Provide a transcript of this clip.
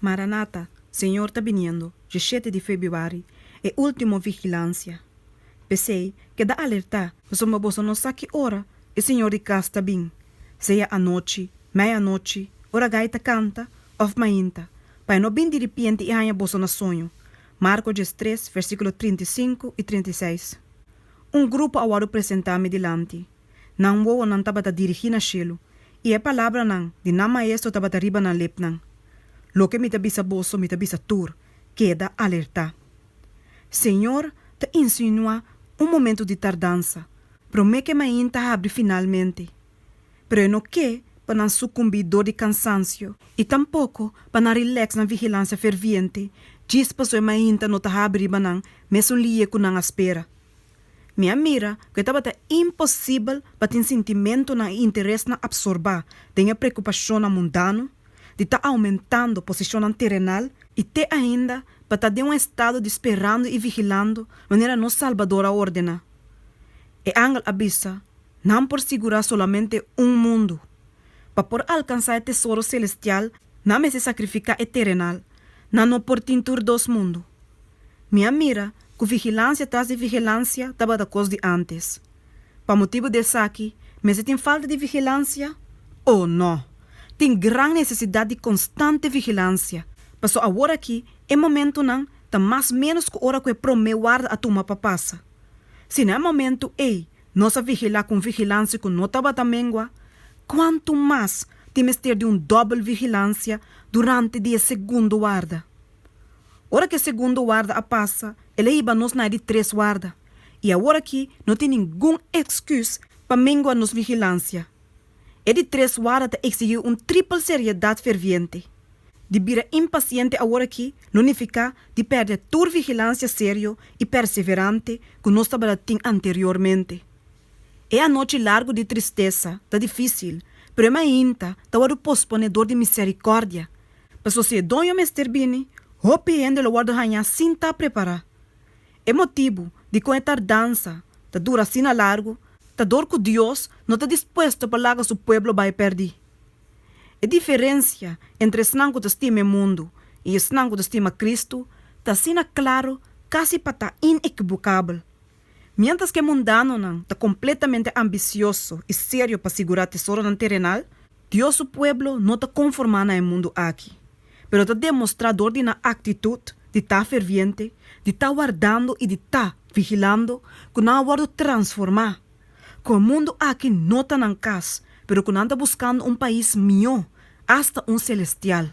Maranata, Señor ta biniendo, Diecisiete di Februari, E Ultimo Vigilancia. P'esei, keda alertá! Pasobra boso no sa ki ora e Señor di kas ta bin, sea anochi, meianochi, ora gai ta kanta, òf mainta, pa e no bin di ripienti i haña boso na soño. Marko diestres, versíkulo trinta i sinku i trinta i seis. Un grupo a wòrdu presentá mi dilanti. Nan wowonan tabata dirigí na shelu, i e palabranan di nan Maestro tabata riba nan lipnan, Loke mi ta bisa boso, mi ta bisa tur, Keda alertá. Señor ta insinuá un momentu di tardansa, promé ke main ta habri finalmente. Pero e no ke pa nan sukumbí dor di kansansio, i tampoko pa nan rilèks na vigilansia ferviente djis pasó e main ta no ta habri riba nan mesun liye ku nan a spera. Mi a mira ku e tabata imposibel pa tin sintimentunan i interesnan apsorbá den e preokupashonnan mundano di ta oumentando posishonnan terenal, i te ainda pa ta den un estado di sperando i vigilando manera nos Salbador a ordená. E angel a bisa, Nan por sigurá solamente un mundu. Pa por alkansá e tesoro selestial, nan mester sakrifiká e terenal. Nan no por tin tur dos mundu. Mi a mira ku vigilansia tras di vigilansia tabata kos di antes. Pa motibu di esaki, mester tin falta di vigilansia? O no! Tin gran nesesidat di konstante vigilansia, pasobra aworakí e momentunan ta mas ménos ku ora ku e promé warda a tuma pa pasa. Si na e momentu ei nos a vigilá ku un vigilansia ku no tabata mengua, kuantu mas tin mester di un dòbel vigilansia durante di e segundo warda! Ora ku e segundo warda a pasa, el a hiba nos na e di tres warda, i awor aki no tin ningun èkskùs pa mengua nos vigilansia. E di tres warda ta eksigí un tripel seriedat ferviente. Di bira impasiente awor aki no nifiká di pèrdè tur vigilansia serio i perseverante ku nos tabata tin anteriormente. E anochi largu di tristesa ta difísil, pero e mainta ta wòrdu posponé dor di miserikòrdia, Pasobra si e doño mester bini, hopi hende lo wòrdu hañá sin ta prepará. E motibu dikon e tardansa ta dura asina largu ta dor ku Dios no ta dispuesto pa laga su pueblo bai pèrdí. E diferensia entre esnan ku ta stima e mundu i esnan ku ta stima Kristu ta asina klaru kasi pa ta inekibukabel. Miéntras ku e mundanonan ta kompletamente ambisioso i serio pa sigurá tesoronan terenal, Dios su pueblo no ta konformá na e mundu aki, pero ta demostrá dor di nan aktitut di ta ferviente, di ta wardando i di ta vigilando ku nan a wòrdu transformá, ku e mundu aki no ta nan kas, pero ku nan ta buskando un pais mihó, asta un selestial.